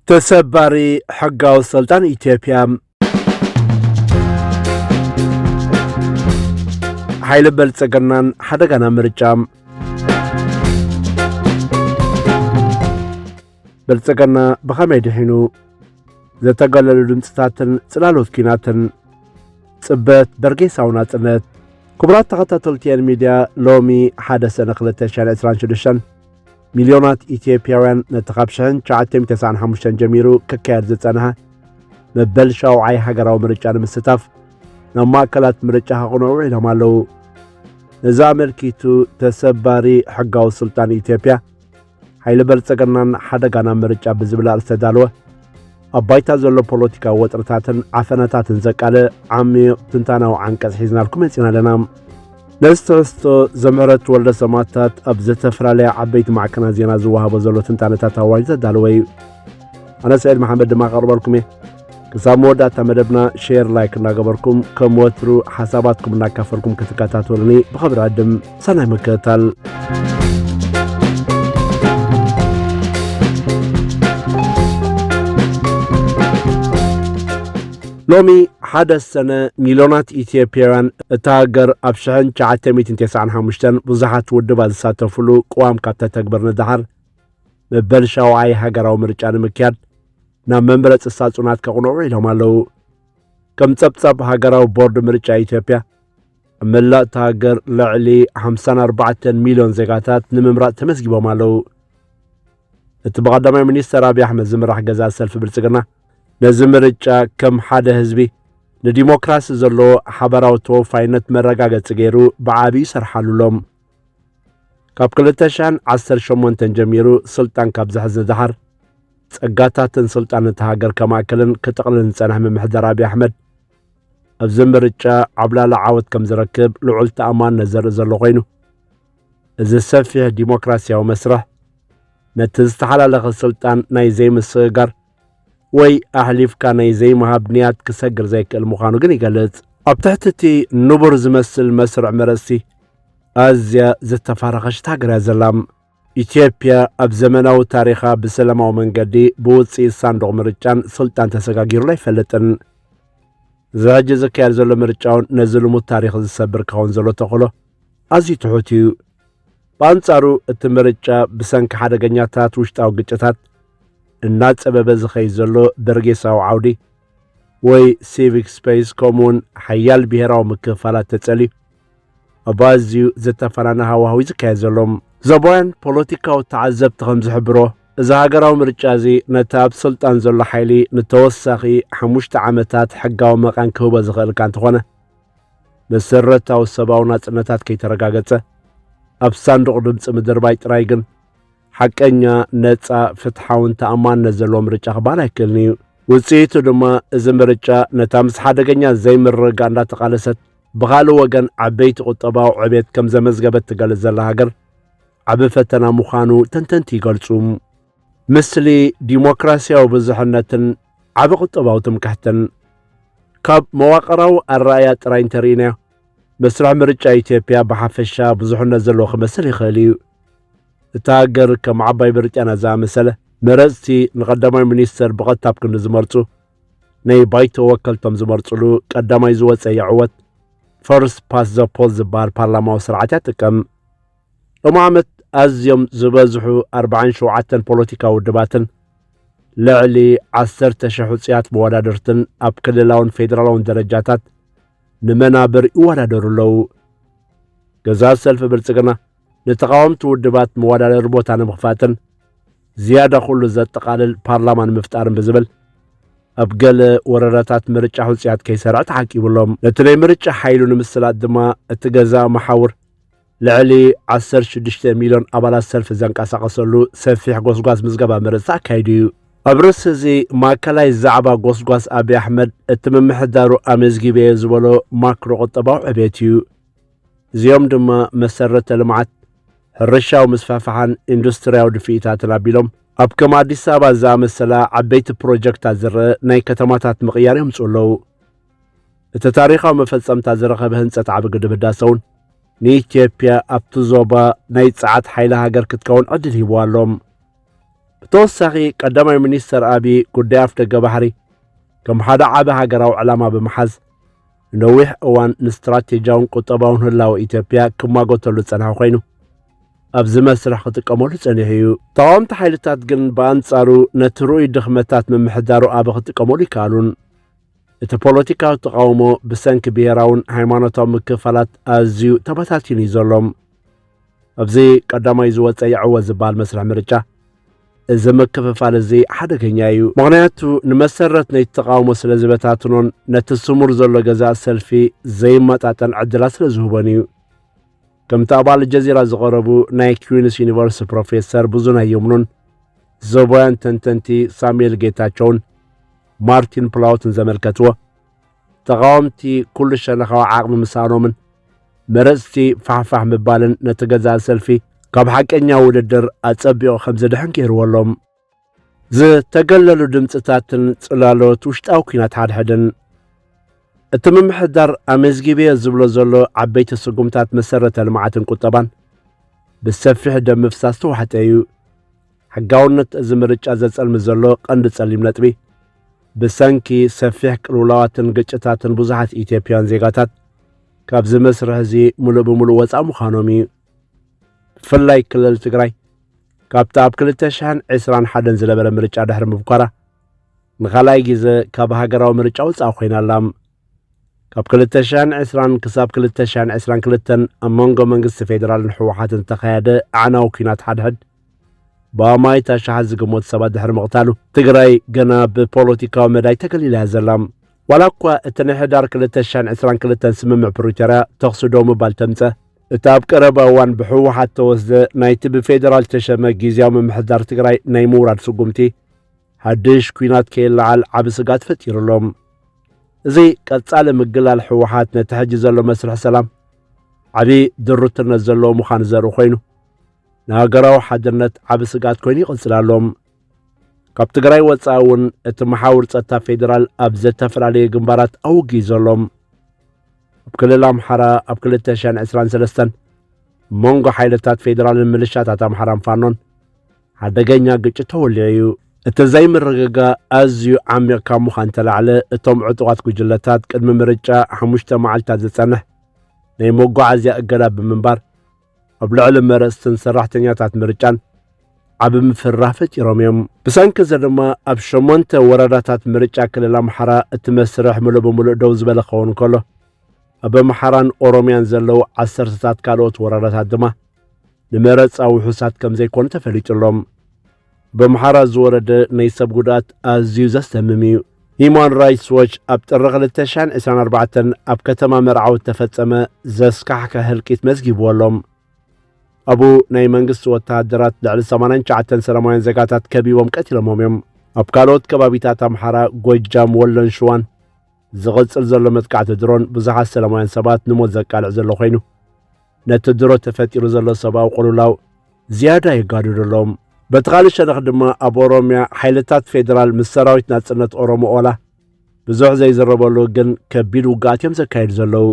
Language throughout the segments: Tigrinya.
ተሰባሪ ሕጋዊ ሰልጣን ኢትዮጵያ ሓይሊ በልጸገናን ሓደጋና ምርጫ በልጸገና ብኸመይ ድሒኑ ዘተገለሉ ድምፅታትን ጽላሎት ኪናትን ጽበት በርጌሳዊ ናጽነት ክቡራት ተኸታተልቲየን ሚድያ ሎሚ ሓደ ሰነ 226 ሚልዮናት ኢትዮጵያውያን ነቲ ካብ ሽሕን ትሽዓተን ተስዓን ሓሙሽተን ጀሚሩ ክካየድ ዝጸንሐ መበል ሻውዓይ ሃገራዊ ምርጫ ንምስታፍ ናብ ማእከላት ምርጫ ከቕንዑ ውዒሎም ኣለዉ። ነዚ ኣመልኪቱ ተሰባሪ ሕጋዊ ስልጣን ኢትዮጵያ ሓይሊ በልጸገናን ሓደጋና ምርጫ ብዝብል ኣርእስቲ ዝተዳለወ ኣብ ባይታ ዘሎ ፖለቲካዊ ወጥርታትን ዓፈናታትን ዘቃልዕ ዓሚቕ ትንታናዊ ዓንቀጽ ሒዝናልኩም መጺና ኣለና ነዚ ትሕዝቶ ዘምሕረት ወልደ ሰማታት ኣብ ዝተፈላለያ ዓበይቲ ማዕከና ዜና ዝወሃቦ ዘሎ ትንታነታት ኣዋጅ ዘዳለወ እዩ ኣነ ስዒድ መሓመድ ድማ ቀርበልኩም እየ ክሳብ መወዳእታ መደብና ሼር ላይክ እናገበርኩም ከም ወትሩ ሓሳባትኩም እናካፈልኩም ክትከታተሉኒ ብኸብሪ ዕድም ሰናይ ምክትታል። ሎሚ ሓደ ሰነ ሚልዮናት ኢትዮጵያውያን እታ ሃገር ኣብ ሽሕን ትሽዓተ ሚእትን ተስዓን ሓሙሽተን ብዙሓት ውድባት ዝሳተፍሉ ቅዋም ካብ ተተግበር ንድሓር መበል ሻውዓይ ሃገራዊ ምርጫ ንምክያድ ናብ መምረፂ ሳጹናት ከቕንዑ ኢሎም ኣለዉ ከም ጸብጻብ ሃገራዊ ቦርድ ምርጫ ኢትዮጵያ ኣብ መላእ እታ ሃገር ልዕሊ 54 ሚልዮን ዜጋታት ንምምራፅ ተመዝጊቦም ኣለዉ። እቲ ብቐዳማይ ሚኒስተር ኣብዪ ኣሕመድ ዝምራሕ ገዛ ሰልፊ ብልጽግና ነዚ ምርጫ ከም ሓደ ህዝቢ ንዲሞክራሲ ዘለዎ ሓበራዊ ተወፋይነት መረጋገፂ ገይሩ ብዓብዪ ይሰርሓሉ ኣሎም። ካብ 2018 ጀሚሩ ስልጣን ካብ ዝሕዝ ንደሓር ጸጋታትን ስልጣን እቲ ሃገር ከማእከልን ክጥቕልን ዝጸንሐ ምምሕዳር ኣብዪ ኣሕመድ ኣብዚ ምርጫ ዓብላሊ ዓወት ከም ዝረክብ ልዑል ተኣማንነት ዘርኢ ዘሎ ኮይኑ እዚ ሰፊሕ ዲሞክራሲያዊ መስርሕ ነቲ ዝተሓላለኸ ስልጣን ናይ ዘይምስግጋር ወይ ኣሕሊፍካ ናይ ዘይምሃብ ንያት ክሰግር ዘይክእል ምዃኑ ግን ይገልጽ ኣብ ትሕቲ እቲ ንቡር ዝመስል መስርዕ መረጽቲ ኣዝያ ዝተፋረኸሽት ሃገር እያ ዘላ ኢትዮጵያ ኣብ ዘመናዊ ታሪኻ ብሰላማዊ መንገዲ ብውፅኢት ሳንዱቕ ምርጫን ስልጣን ተሰጋጊሩላ ኣይፈልጥን። እዚ ሕጂ ዝካየድ ዘሎ ምርጫውን ነዚ ልሙድ ታሪኽ ዝሰብር ክኸውን ዘሎ ተኽእሎ ኣዝዩ ትሑት እዩ። ብኣንጻሩ እቲ ምርጫ ብሰንኪ ሓደገኛታት ውሽጣዊ ግጭታት እናጸበበ ዝኸይድ ዘሎ በርጌሳዊ ዓውዲ ወይ ሲቪክ ስፔስ ከምኡውን ሓያል ብሔራዊ ምክፍፋላት ተጸልዩ ኣብ ኣዝዩ ዘተፈናነ ሃዋህው እዩ ዝካየድ ዘሎ ዞባውያን ፖለቲካዊ ተዓዘብቲ ከም ዝሕብሮ እዚ ሃገራዊ ምርጫ እዚ ነቲ ኣብ ስልጣን ዘሎ ሓይሊ ንተወሳኺ ሓሙሽተ ዓመታት ሕጋዊ መቓን ክህቦ ዝኽእል እካ እንተኾነ መሰረታዊ ሰብኣዊ ናጽነታት ከይተረጋገጸ ኣብ ሳንዱቕ ድምፂ ምድርባይ ጥራይ ግን ሓቀኛ ነፃ ፍትሓውን ተኣማንነት ዘለዎ ምርጫ ክበሃል ኣይክእልን እዩ ውፅኢቱ ድማ እዚ ምርጫ ነታ ምስ ሓደገኛ ዘይምርግጋእ እንዳተቓለሰት ብኻልእ ወገን ዓበይቲ ቁጠባዊ ዕቤት ከም ዘመዝገበት ትገልጽ ዘላ ሃገር ዓቢ ፈተና ምዃኑ ተንተንቲ ይገልጹ። ምስሊ ዲሞክራሲያዊ ብዝሕነትን ዓቢ ቁጠባዊ ትምክሕትን ካብ መዋቕራዊ ኣረኣያ ጥራይ እንተርኢናዮ መስርሕ ምርጫ ኢትዮጵያ ብሓፈሻ ብዙሕነት ዘለዎ ክመስል ይኽእል እዩ። እታ ሃገር ከም ዓባይ ብሪጣንያ ዝኣመሰለ መረፅቲ ንቀዳማይ ሚኒስተር ብቐጥታ ኣብ ክንዲ ዝመርፁ ናይ ባይቶ ወከልቶም ዝመርጽሉ ቀዳማይ ዝወፀ ይዕወት ፈርስት ፓስ ዘ ፖል ዝበሃል ፓርላማዊ ስርዓት እያ ትጥቀም ሎሚ ዓመት ኣዝዮም ዝበዝሑ 47 ፖለቲካ ውድባትን ልዕሊ 10 ሽሕ ውፅያት መወዳድርትን ኣብ ክልላውን ፌዴራላውን ደረጃታት ንመናብር ይወዳደሩ ኣለዉ ገዛ ሰልፊ ብልፅግና ንተቓወምቲ ውድባት መወዳደሪ ቦታ ንምኽፋትን ዝያዳ ኩሉ ዘጠቓልል ፓርላማ ንምፍጣርን ብዝብል ኣብ ገለ ወረዳታት ምርጫ ሕፁያት ከይሰርዐ ተዓቂቡ ኣሎ። ነቲ ናይ ምርጫ ሓይሉ ንምስላጥ ድማ እቲ ገዛ መሓውር ልዕሊ 16 ሚልዮን ኣባላት ሰልፊ ዘንቀሳቐሰሉ ሰፊሕ ጎስጓስ ምዝገባ መረፅቲ ኣካይዱ እዩ። ኣብ ርእሲ እዚ ማእከላይ ዛዕባ ጎስጓስ ኣብዪ ኣሕመድ እቲ ምምሕዳሩ ኣመዝጊበዮ ዝበሎ ማክሮ ቁጠባዊ ዕቤት እዩ። እዚኦም ድማ መሰረተ ልምዓት፣ ሕርሻዊ ምስፋሕፋሕን ኢንዱስትርያዊ ድፍኢታትን ኣቢሎም ኣብ ከም ኣዲስ ኣበባ ዝኣመሰላ ዓበይቲ ፕሮጀክታት ዝርአ ናይ ከተማታት ምቕያር የምፅኡ ኣለዉ። እቲ ታሪኻዊ መፈጸምታ ዝረኸበ ህንፀት ዓቢ ግድብ ህዳሰ እውን ንኢትዮጵያ ኣብቲ ዞባ ናይ ጸዓት ሓይሊ ሃገር ክትከውን ዕድል ሂብዋ ኣሎ። ብተወሳኺ ቀዳማይ ሚኒስተር ኣብዪ ጉዳይ ኣፍደገ ባሕሪ ከም ሓደ ዓቢ ሃገራዊ ዕላማ ብምሓዝ ንነዊሕ እዋን ንስትራቴጂያውን ቁጠባውን ህላወ ኢትዮጵያ ክሟገተሉ ዝጸንሐ ኮይኑ ኣብዚ መስርሕ ክጥቀመሉ ጸኒሑ እዩ። ተቓወምቲ ሓይልታት ግን ብኣንጻሩ ነቲ ርኡይ ድኽመታት ምምሕዳሩ ኣበ ክጥቀመሉ ይከኣሉን። እቲ ፖለቲካዊ ተቓውሞ ብሰንኪ ብሄራውን ሃይማኖታዊ ምክፍፋላት ኣዝዩ ተበታቲኑ እዩ ዘሎ። ኣብዚ ቀዳማይ ዝወፀ ይዕወት ዝበሃል መስርሕ ምርጫ እዚ ምክፍፋል እዚ ሓደገኛ እዩ። ምክንያቱ ንመሰረት ነቲ ተቃውሞ ስለ ዝበታትኖን ነቲ ስሙር ዘሎ ገዛእ ሰልፊ ዘይመጣጠን ዕድላት ስለ ዝህቦን እዩ። ከምቲ ኣብ ኣልጀዚራ ዝቐረቡ ናይ ኩዊንስ ዩኒቨርሲቲ ፕሮፌሰር ብዙነህ የምኑን ዞባውያን ተንተንቲ ሳሙኤል ጌታቸውን ማርቲን ፕላውትን ዘመልከትዎ ተቓወምቲ ኩሉ ሸነኻዊ ዓቕሚ ምሳኖምን መረጽቲ ፋሕፋሕ ምባልን ነቲ ገዛ ሰልፊ ካብ ሓቀኛ ውድድር ኣጸቢቑ ከም ዝድሕን ገይርዎ ኣሎ ዝተገለሉ ድምፅታትን ጽላሎት ውሽጣዊ ኩናት ሓድሕድን እቲ ምምሕዳር ኣመዝጊብዮ ዝብሎ ዘሎ ዓበይቲ ስጉምታት መሰረተ ልምዓትን ቁጠባን ብሰፊሕ ደም ምፍሳስ ተዋሕጠ እዩ ሕጋውነት እዚ ምርጫ ዘጸልሚ ዘሎ ቀንዲ ጸሊም ነጥቢ፣ ብሰንኪ ሰፊሕ ቅልውላዋትን ግጭታትን ብዙሓት ኢትዮጵያውያን ዜጋታት ካብዚ መስርሕ እዚ ምሉእ ብምሉእ ወጻእ ምዃኖም እዩ። ብፍላይ ክልል ትግራይ ካብቲ ኣብ 2021 ዝነበረ ምርጫ ድሕሪ ምብኳራ ንኻልኣይ ግዜ ካብ ሃገራዊ ምርጫ ወጻእ ኮይና ኣላ። ካብ 2020 ክሳብ 2022 ኣብ መንጎ መንግስቲ ፌዴራልን ህወሓትን ዝተኻየደ ኣዕናዊ ኲናት ሓድሕድ ብኣማኢት ኣሽሓት ዝግመቱ ሰባት ድሕሪ ምቕታሉ ትግራይ ገና ብፖለቲካዊ መዳይ ተገሊላ እያ ዘላ ዋላ እኳ እቲ ናይ ሕዳር 222 ስምምዕ ፕሪቶርያ ተኽሲ ደው ምባል ተምፀ እቲ ኣብ ቀረባ እዋን ብሕወሓት ተወስደ ናይቲ ብፌዴራል ተሸመ ግዜያዊ ምምሕዳር ትግራይ ናይ ምውራድ ስጉምቲ ሓድሽ ኩናት ከይለዓል ዓብ ስጋት ፈጢሩ ኣሎ እዚ ቀጻሊ ምግላል ሕወሓት ነቲ ሕጂ ዘሎ መስርሕ ሰላም ዓብዪ ድሩትነት ዘለዎ ምዃኑ ዘርኢ ኮይኑ ንሃገራዊ ሓድነት ዓብ ስግኣት ኮይኑ ይቕጽል ኣሎ። ካብ ትግራይ ወጻኢ እውን እቲ መሓውር ጸጥታ ፌዴራል ኣብ ዘተፈላለየ ግንባራት ኣውጊ ዘሎ ኣብ ክልል ኣምሓራ ኣብ 223 መንጎ ሓይልታት ፌዴራልን ምልሻታት ኣምሓራን ፋኖን ሓደገኛ ግጭት ተወሊዑ እዩ። እቲ ዘይምርግጋ ኣዝዩ ዓሚቕ ካብ ምዃን ተላዕለ እቶም ዕጡቓት ጉጅለታት ቅድሚ ምርጫ ሓሙሽተ መዓልትታት ዝጸንሕ ናይ መጓዓዝያ እገዳ ብምንባር ኣብ ልዕሊ መረፅትን ሰራሕተኛታት ምርጫን ዓቢ ምፍርራህ ፈጢሮም እዮም። ብሰንኪ እዚ ድማ ኣብ ሸሞንተ ወረዳታት ምርጫ ክልል ኣምሓራ እቲ መስርሕ ምሉእ ብምሉእ ደው ዝበለ ክኸውን ከሎ ኣብ ኣምሓራን ኦሮምያን ዘለዉ ዓሰርተታት ካልኦት ወረዳታት ድማ ንመረፃ ውሑሳት ከም ዘይኮኑ ተፈሊጡ ኣሎ። በምሓራ ዝወረደ ናይ ሰብ ጉድኣት ኣዝዩ ዘስደምም እዩ። ሂዩማን ራይትስ ዎች ኣብ ጥሪ ክልተ ሽሕን ዕስራን ኣርባዕተን ኣብ ከተማ መርዓዊ እተፈጸመ ዘስካሕክሕ ህልቂት መዝጊብዎ ኣሎ። ኣብኡ ናይ መንግስቲ ወተሃደራት ልዕሊ ሰማንያን ትሽዓተን ሰላማውያን ዜጋታት ከቢቦም ቀቲሎሞም እዮም። ኣብ ካልኦት ከባቢታት ኣምሓራ፣ ጎጃም፣ ወሎን ሽዋን ዝቕጽል ዘሎ መጥቃዕቲ ድሮን ብዙሓት ሰላማውያን ሰባት ንሞት ዘቃልዕ ዘሎ ኮይኑ ነቲ ድሮ ተፈጢሩ ዘሎ ሰብኣዊ ቅልውላው ዝያዳ የጋድዶ ኣሎ። በቲ ካልእ ሸነኽ ድማ ኣብ ኦሮምያ ሓይልታት ፌዴራል ምስ ሰራዊት ናጽነት ኦሮሞ ኦላ ብዙሕ ዘይዝረበሉ ግን ከቢድ ውግኣት እዮም ዘካየዱ ዘለዉ።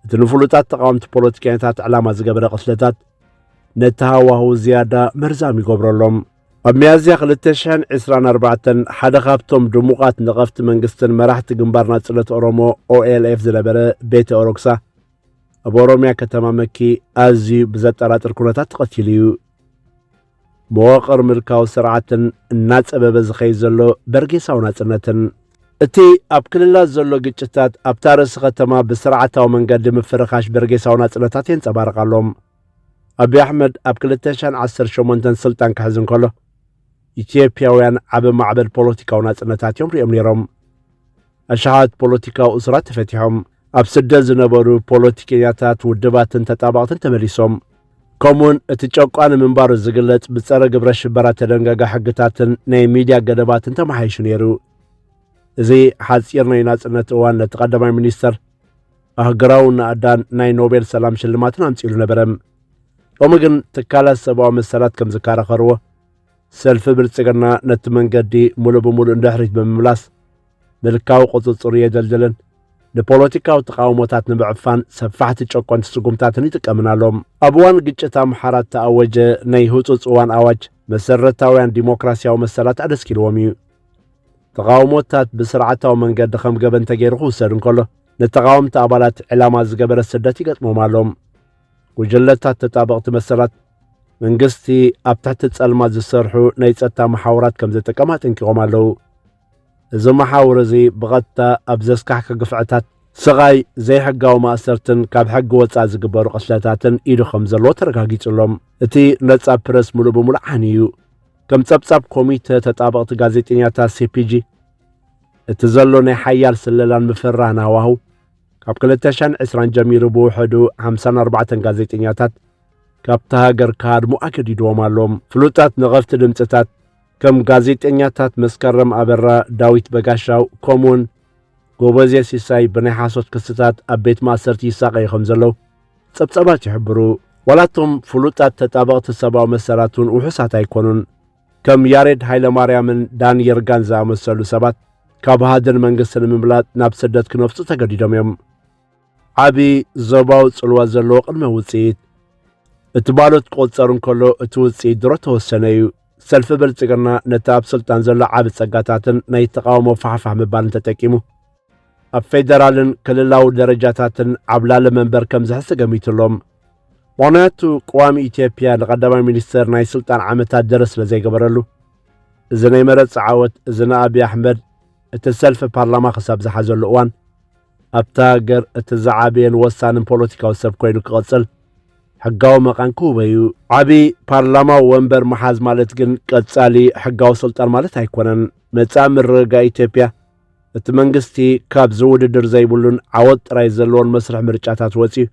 እቲ ንፍሉጣት ተቃወምቲ ፖለቲከኛታት ዕላማ ዝገበረ ቅትለታት ነቲ ሃዋህው ዝያዳ መርዛም ይገብረሎም ኣብ ሚያዝያ 224 ሓደ ካብቶም ድሙቓት ነቐፍቲ መንግስትን መራሕቲ ግንባር ናጽነት ኦሮሞ ኦኤልኤፍ ዝነበረ ቤተ ኦሮክሳ ኣብ ኦሮምያ ከተማ መኪ ኣዝዩ ብዘጠራጥር ኩነታት ተቐቲሉ እዩ። መዋቕር ምልካዊ ስርዓትን እናጸበበ ዝኸይ ዘሎ በርጌሳዊ ናጽነትን እቲ ኣብ ክልላት ዘሎ ግጭታት ኣብታ ርእሲ ከተማ ብስርዓታዊ መንገዲ ምፍርኻሽ በርጌሳዊ ናጽነታት የንጸባርቕ ኣሎም ኣብዪ ኣሕመድ ኣብ 218 ስልጣን ክሕዝ እንከሎ ኢትዮጵያውያን ዓብ ማዕበል ፖለቲካዊ ናጽነታት እዮም ሪኦም ነይሮም ኣሽሓት ፖለቲካዊ እሱራት ተፈቲሖም፣ ኣብ ስደት ዝነበሩ ፖለቲከኛታት፣ ውድባትን ተጣበቕትን ተመሊሶም፣ ከምኡ'ውን እቲ ጨቋኒ ምንባሩ ዝግለጽ ብጸረ ግብረ-ሽበራ እተደንገገ ሕግታትን ናይ ሚድያ ገደባትን ተመሓይሹ ነይሩ። እዚ ሓጺር ናይ ናጽነት እዋን ነቲ ቀዳማይ ሚኒስተር ኣህግራውን ናእዳን ናይ ኖቤል ሰላም ሽልማትን ኣምጺሉ ነበረ። ሎሚ ግን ትካላት ሰብኣዊ መሰላት ከም ዝከራኸርዎ ሰልፊ ብልጽግና ነቲ መንገዲ ሙሉእ ብምሉእ ንድሕሪት ብምምላስ ምልካዊ ቁጽጽሩ የደልድልን ንፖለቲካዊ ተቃውሞታት ንምዕፋን ሰፋሕቲ ጨቆንቲ ስጉምታትን ይጥቀምን ኣሎ። ኣብ እዋን ግጭት ኣምሓራ እተኣወጀ ናይ ህጹጽ እዋን ኣዋጅ መሰረታውያን ዲሞክራስያዊ መሰላት ኣደስኪልዎም እዩ። ተቓውሞታት ብስርዓታዊ መንገዲ ከም ገበን ተገይሩ ክውሰድ እንከሎ ንተቓወምቲ ኣባላት ዕላማ ዝገበረ ስደት ይገጥሞም ኣሎ። ጉጅለታት ተጣበቕቲ መሰላት መንግስቲ ኣብ ትሕቲ ጸልማት ዝሰርሑ ናይ ጸጥታ መሓውራት ከም ዘጠቀም ኣጠንቂቖም ኣለዉ። እዚ መሓውር እዚ ብቐጥታ ኣብ ዘስካሕኪ ግፍዕታት፣ ስቓይ፣ ዘይሕጋዊ ማእሰርትን ካብ ሕጊ ወጻኢ ዝግበሩ ቅትለታትን ኢዱ ከም ዘለዎ ተረጋጊጹ ኣሎ። እቲ ነጻ ፕረስ ምሉእ ብምሉእ ዓንዩ እዩ። ከም ጸብጻብ ኮሚተ ተጣበቕቲ ጋዜጠኛታት ሲፒጂ እቲ ዘሎ ናይ ሓያል ስለላን ምፍራህን ሃዋህው ካብ 2020 ጀሚሩ ብውሕዱ 54 ጋዜጠኛታት ካብታ ሃገር ክሃድሙ ኣገዲድዎም ኣሎ። ፍሉጣት ነቐፍቲ ድምፅታት ከም ጋዜጠኛታት መስከረም ኣበራ፣ ዳዊት በጋሻው ከምኡውን ጎበዜ ሲሳይ ብናይ ሓሶት ክስታት ኣብ ቤት ማእሰርቲ ይሳቐዩ ከም ዘለዉ ጸብጻባት ይሕብሩ። ዋላ እቶም ፍሉጣት ተጣበቕቲ ሰብኣዊ መሰላት እውን ውሑሳት ኣይኮኑን። ከም ያሬድ ሃይለማርያምን ዳን ይርጋን ዝኣመሰሉ ሰባት ካብ ሃድን መንግስቲ ንምምላጥ ናብ ስደት ክነፍጹ ተገዲዶም እዮም። ዓቢ ዞባዊ ጽልዋ ዘለዎ ቅድመ ውጽኢት እቲ ባሎት ክቑጸር እንከሎ እቲ ውጽኢት ድሮ ተወሰነ እዩ። ሰልፊ ብልጽግና ነቲ ኣብ ስልጣን ዘሎ ዓቢ ጸጋታትን ናይ ተቓውሞ ፋሕፋሕ ምባልን ተጠቂሙ ኣብ ፌደራልን ክልላዊ ደረጃታትን ዓብላሊ መንበር ከም ዝሕሲ ገሚቱሎም ምክንያቱ ቅዋሚ ኢትዮጵያ ንቐዳማይ ሚኒስተር ናይ ስልጣን ዓመታት ደረ ስለ ዘይገበረሉ እዚ ናይ መረፅ ዓወት እዚ ንኣብዪ ኣሕመድ እቲ ሰልፊ ፓርላማ ክሳብ ዝሓዘሉ እዋን ኣብታ ሃገር እቲ ዝዓበየን ወሳንን ፖለቲካዊ ሰብ ኮይኑ ክቕጽል ሕጋዊ መቓን ክህቦ እዩ። ዓቢ ፓርላማዊ ወንበር መሓዝ ማለት ግን ቀጻሊ ሕጋዊ ስልጣን ማለት ኣይኮነን። መጻኢ ምርግጋእ ኢትዮጵያ እቲ መንግስቲ ካብ ዝውድድር ዘይብሉን ዓወት ጥራይ ዘለዎን መስርሕ ምርጫታት ወጺኡ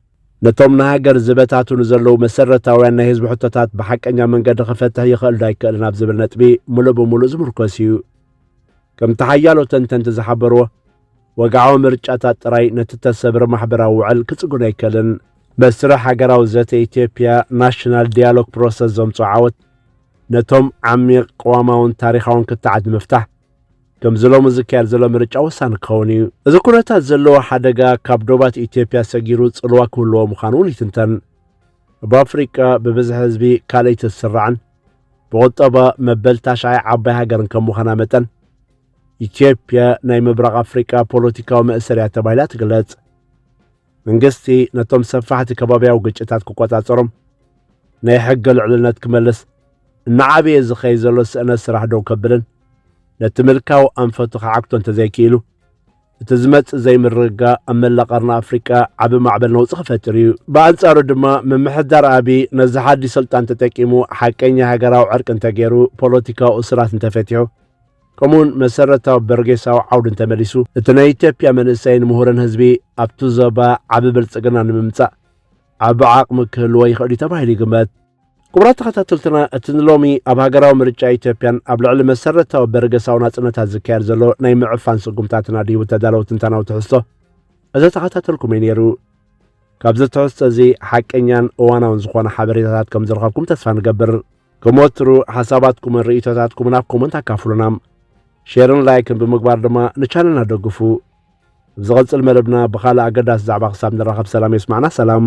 ነቶም ንሃገር ዝበታትኑ ዘለዉ መሰረታውያን ናይ ህዝቢ ሕቶታት ብሓቀኛ መንገዲ ክፈትሕ ይኽእል ዶ ኣይክእልን ኣብ ዝብል ነጥቢ ምሉእ ብምሉእ ዝምርኮስ እዩ። ከምቲ ሓያሎ ተንተንቲ ዝሓበርዎ ወግዓዊ ምርጫታት ጥራይ ነቲ እተሰብረ ማሕበራዊ ውዕል ክጽግኖ ኣይከልን። መስርሕ ሃገራዊ ዘተ ኢትዮጵያ፣ ናሽናል ዲያሎግ ፕሮሰስ፣ ዘምጽኦ ዓወት ነቶም ዓሚቕ ቅዋማውን ታሪኻውን ክትዓት ንምፍታሕ ከምዚ ሎሚ ዝካየድ ዘሎ ምርጫ ወሳኒ ክኸውን እዩ። እዚ ኩነታት ዘለዎ ሓደጋ ካብ ዶባት ኢትዮጵያ ሰጊሩ ጽልዋ ክህልዎ ምዃኑ እውን ይትንተን። ኣብ ኣፍሪቃ ብብዝሒ ህዝቢ ካልኣይቲ እትስራዕን ብቑጠባ መበል ታሽዓይ ዓባይ ሃገርን ከም ምዃና መጠን ኢትዮጵያ ናይ ምብራቕ ኣፍሪቃ ፖለቲካዊ መእሰርያ ተባሂላ ትግለጽ መንግስቲ ነቶም ሰፋሕቲ ከባብያዊ ግጭታት ክቆጻጸሮም ናይ ሕገ ልዕልነት ክመልስ እናዓበየ ዝኸይድ ዘሎ ስእነት ስራሕ ደው ከብልን ነቲ ምልካዊ ኣንፈቱ ክዓግቶ እንተዘይክኢሉ እቲ ዝመጽእ ዘይምርግጋ ኣብ መላእ ቀርኒ ኣፍሪቃ ዓቢ ማዕበል ነውፂ ክፈጥር እዩ ብኣንጻሩ ድማ ምምሕዳር ኣቢ ነዚ ሓዲ ስልጣን ተጠቂሙ ሓቀኛ ሃገራዊ ዕርቂ እንተገይሩ ፖለቲካዊ እሱራት እንተፈቲሑ ከምኡውን መሰረታዊ በርጌሳዊ ዓውዲ እንተመሊሱ እቲ ናይ ኢትዮጵያ መንእሰይን ምሁርን ህዝቢ ኣብቲ ዞባ ዓቢ ብልጽግና ንምምጻእ ዓቢ ዓቕሚ ክህልዎ ይኽእል እዩ ተባሂሉ ይግመት ክቡራት ተኸታተልትና እቲ ንሎሚ ኣብ ሃገራዊ ምርጫ ኢትዮጵያን ኣብ ልዕሊ መሰረታዊ በርገሳዊ ናፅነታት ዝካየድ ዘሎ ናይ ምዕፋን ስጉምታትን ኣድሂቡ ተዳለወ ትንታናዊ ትሕዝቶ እዘ ተኸታተልኩም እዩ ነይሩ ካብዚ ትሕዝቶ እዚ ሓቀኛን እዋናውን ዝኾነ ሓበሬታታት ከም ዝረኸብኩም ተስፋ ንገብር ከም ወትሩ ሓሳባትኩምን ርእይቶታትኩምን ኣብ ኮመንት ኣካፍሉና ሼርን ላይክን ብምግባር ድማ ንቻነልና ደግፉ ኣብ ዝቐጽል መደብና ብኻልእ ኣገዳሲ ዛዕባ ክሳብ ንራኸብ ሰላም የስማዕና ሰላም